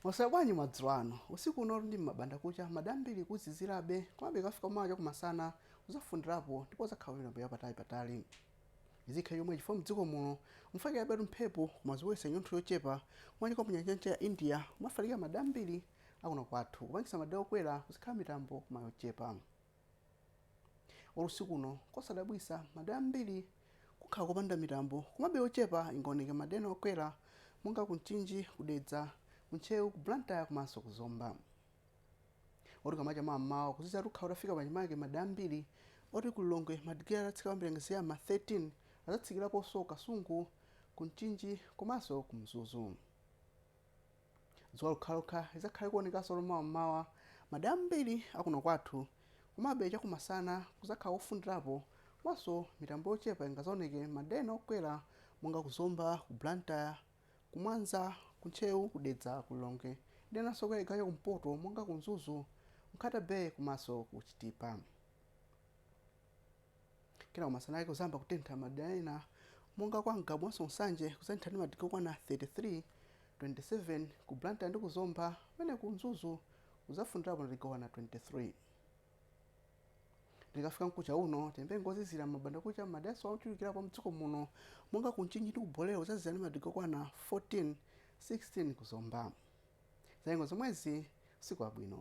Mwaswera bwanji madzulo ano? Usiku uno ndi m'mabanda kucha madera ambiri kuzizirabe komabe ikafika mawa chakumasana kuzafundirapo ndipo kuzakhala mitambo ya patali patali. Izi zikhale chomwechi chifukwa mdziko muno mufalikirabetu mphepo koma zibweretsa chinyontho chochepa chomachokera mu nyanja ya mchere ya India kumafalikira madera ambiri akuno kwathu kupangisa madera okwera kuzikhala mitambo koma yochepa. Olo usiku uno, nkosadabwitsa madera ambiri kukhala kopanda mitambo komabe yochepa ingaoneke madera ena okwera monga ku Mchinji, ku Dedza, ku Ntcheu, ku Blantyre komanso ku Zomba. Moti kukamacha mawa m'mawa kuziziratu kukhala kutafika pachimake madera ambiri moti ku Lilongwe madigiri adzatsika kwambiri angaziya ma 13 adzatsikiraponso Kasungu, ku Mchinji komanso ku Mzuzu. Dzuwa lokhalokha lidzakhale likuonekanso mawa m'mawa madera ambiri a kuno kwathu, komabe chakumasana kudzakhala kofundirapo komanso mitambo yochepa ingadzaoneke m'madera ena okwera monga ku Zomba, ku Blantyre, ku Mwanza, ku Ntcheu, ku Dedza, ku Lilongwe ndi enanso okwera chigawo chakumpoto monga ku Mzuzu, Nkhata Bay komanso ku Chitipa. Kenako masana ake kudzayamba kutentha m'madera ena monga kwa Ngabu komanso Nsanje kudzatentha ndi madigirii okwana 33, 27 ku Blantyre ndi ku Zomba pamene ku Mzuzu kudzafundirapo madigirii okwana 23. Likafika mkucha uno, tiyembekezere nyengo yozizira m'mabandakucha m'maderaso ochulukirapo a m'dziko muno monga ku Mchinji ndi ku Bolero kudzazizira ndi madigirii okwana 14, 16 ku Zomba. Zanyengo zomwezi usiku wabwino.